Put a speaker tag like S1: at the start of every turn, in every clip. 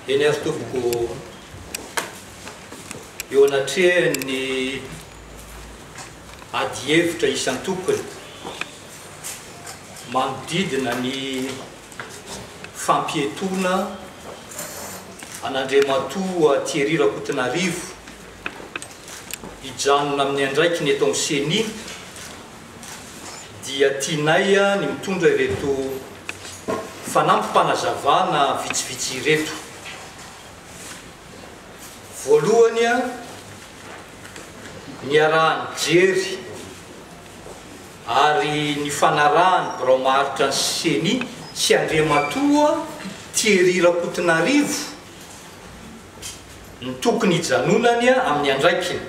S1: Eny ary tompoko eo anatrehan'ny adihevitra isan-tokony manodidina ny fampietoana an'Andriamatoa Thierry Rakotonarivo hijanona amin'ny andraikiny eto amin'ny Ceni dia tianay ny mitondra ireto fanampim-panazavana vitsivitsy ireto. Voalohany, niaraha-nijery ary nifanarahan'ny birao maharitra ny Ceni sy Andriamatoa Thierry Rakotonarivo, no tokony hijanonany amin'ny andraikiny.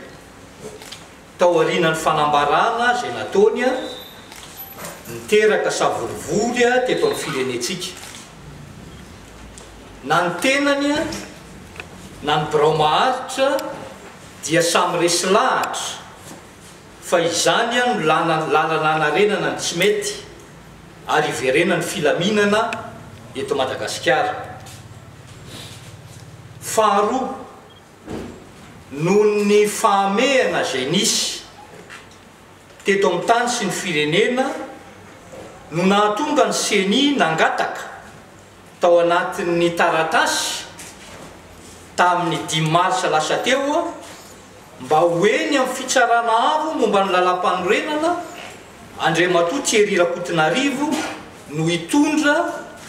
S1: Tao aorianan'ny fanambarana izay nataony, niteraka savorovoro teto amin'ny firenentsika. Na ny tenany na ny birao maharitra dia samy resy lahatra fa izany no lalana hanarenana ny tsy mety. ary hiverena ny filaminana eto Madagasikara. Faharoa, noho ny fahamehana izay nisy teto amin'ny tany sy ny firenena no nahatonga ny Ceni nangataka tao anatin'ny taratasy tamin'ny dimy marsa lasa teo, Mba ho eny amin'ny fitsarana avo momba ny Lalàmpanorenana, Andriamatoa Thierry Rakotonarivo no hitondra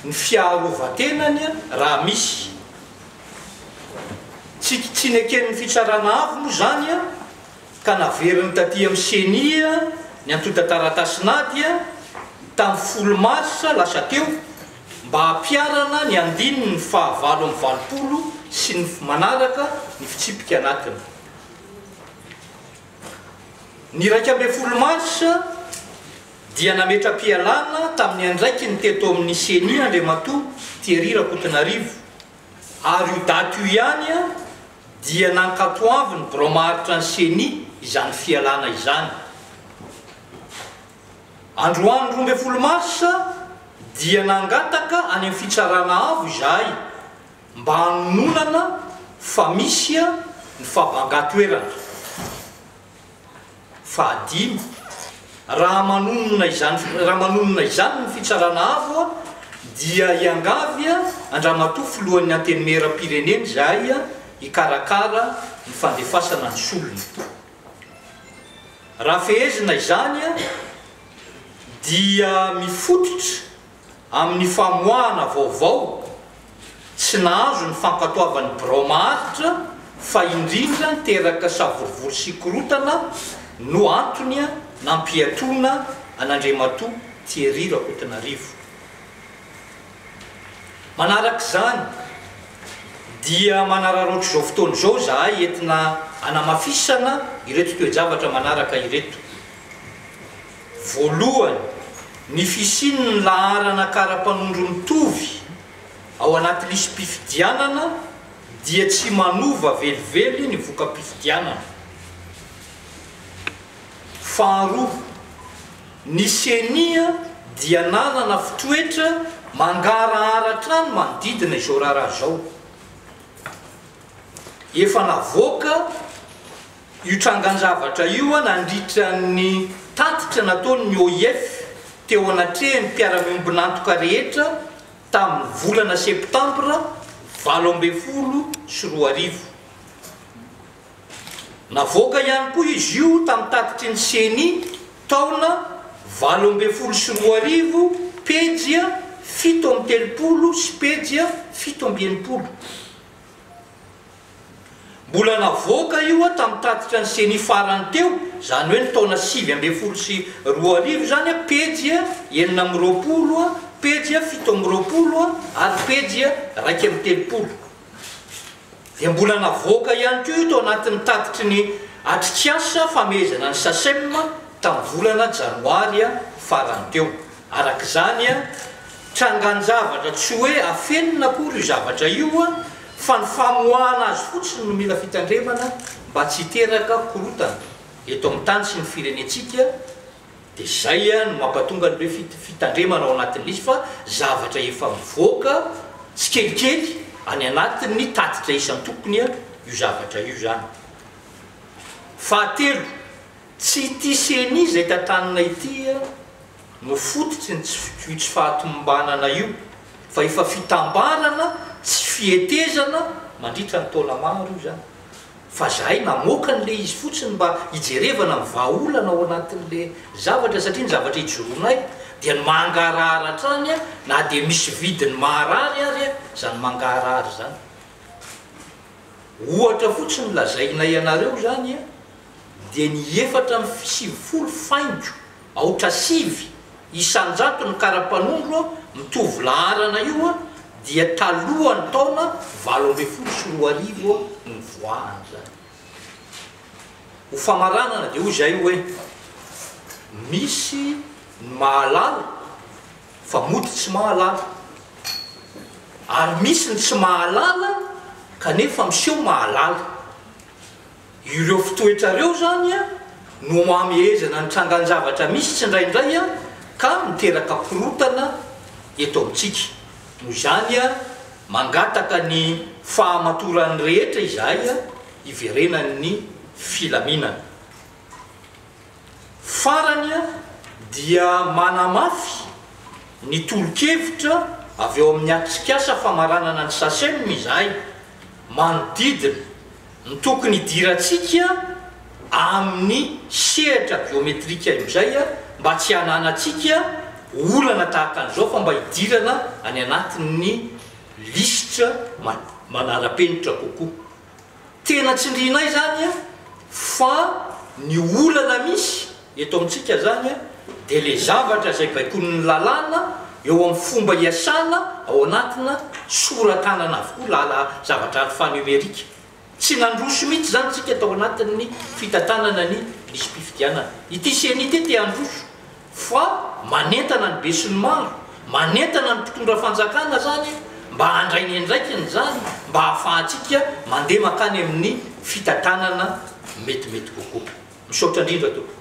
S1: ny fiarovan-tenany raha misy. Tsy tsy neken'ny fitsarana avo moa izany ka naveriny taty amin'ny Ceni ny antontan-taratasin'ady tamin'ny folo marsa lasa teo Mba hampiharana ny andininy fahavalo amby valopolo sy ny manaraka ny fitsipika anatiny, ny iraika ambin'ny folo marsa dia nametra-pialana tamin'ny andraikiny teto amin'ny Ceni Andriamatoa Thierry Rakotonarivo ary io daty io ihany dia nankatoavin'ny birao maharitra ny Ceni izany fialana izany. Androany roa ambin'ny folo marsa dia nangataka any amin'ny Fitsarana Avo izahay mba hanononana fa misy ny favangan-toerana fahadimy. Raha manonona izany raha manonona izany ny Fitsarana Avo dia hiangavy an-dRamatoa Filohan'ny Antenimieram-pirenena izahay hikarakara ny fandefasana ny solony. Raha fehezina izany dia mifototra amin'ny famoahana vaovao tsy nahazo ny fankatoavan'ny birao maharitra fa indrindra teraka savorovoro sy korontana no antony nampiatoana an'Andriamatoa Thierry Rakotonarivo. Manaraka izany dia manararaotra izao fotoana izao izahay entina hanamafisana ireto toe-javatra manaraka ireto. Voalohany, ny fisian'ny laharana kara-panondro mitovy ao anaty lisi-pifidianana dia tsy manova velively ny voka-pifidianana. Faharoa, ny Ceni dia nanana fitoetra mangarahara hatrany manodidina izao raharaha izao. Efa navoaka io trangan-javatra io nandritra ny tatitra nataon'ny OIF teo anatrehan'ny mpiara-miombon'antoka rehetra tamin'ny volana Septambra valo ambin'ny folo sy roa arivo. Navoaka ihany koa izy io tamin'ny tatitry ny Ceni taona valo ambin'ny folo sy roa arivo, pejy fito amby telopolo sy pejy fito amby enimpolo. Mbola navoaka io tamin'ny tatitra ny Ceni farany teo, izany hoe ny taona sivy ambin'ny folo sy roa arivo izany, pejy enina amby roapolo, pejy fito amby roapolo ary pejy iraika amby telopolo. dia mbola navoaka ihany koa tao anatin'ny tatitry ny atrikasa famehezana ny Sacem tamin'ny volana janoary farany teo. Araka izany, trangan-javatra tsy hoe afenina akory io zavatra io fa ny famoahana azy fotsiny no mila fitandremana mba tsy hiteraka korontana eto amin'ny tany sy ny firenentsika, Dia izay no mampatonga ny hoe fitandremana ao anatin'izy fa zavatra efa mivoaka tsikelikely any anatin'ny tatitra isan-tokony io zavatra io izany. Fahatelo, tsy ity ceni izay tantanina ity no fototry ny tsy io tsy fahatomombanana io fa efa fitambarana tsy fihetezana mandritra ny taona maro io izany. Fa zahay namoaka an'le izy fotsiny mba hijerevana ny vahaolana ao anatin'le zavatra satria ny zavatra ijoroanay dia ny mangarahara hatrany na dia misy vidiny maharary ary zany mangaharary zany. Ohatra fotsiny lazainay anareo zany dia ny efatra amby sivifolo faingo Aotra sivy isan-jato ny karapanondro mitovy laharana io dia talohan'ny taona valo ambin'ny folo sy roa arivo nivoahany izany. Ho famaranana dia hoy izahay hoe misy ny mahalala fa mody tsy mahalala ary misy ny tsy mahalala kanefa miseho mahalala. Ireo fitoetrareo izany no mamehezana ny trangan-javatra misy tsindraindray ka miteraka korotana eto amintsika. Noho izany, mangataka ny fahamatoran'ny rehetra izahay hiverenan'ny filaminana. Farany dia manamafy ny tolo-kevitra avy ao amin'ny atrikasa famaranana ny Sacem izahay manodidina ny tokony hidirantsika amin'ny sehatra biometrika izay mba tsy hananantsika olana tahaka an'izao fa mba hidirana any anatin'ny lisitra manara-penitra kokoa. Tena tsindrianay izany an, fa ny olana misy eto amintsika izany an, dia ilay zavatra izay baikoin'ny lalàna eo amin'ny fomba iasana ao anatina sora-tanana avokoa lala zavatra alphanumerika. Tsy nandroso mihitsy izany isika tao anatin'ny fitantanana ny lisi-pifidianana. Ity ceni ity te handroso. Fa manentana ny besinimaro, manentana ny mpitondra fanjakana zany mba handray ny andraikiny zany mba hahafahantsika mandeha makany amin'ny fitantanana metimety kokoa. Misaotra indrindra tompoko.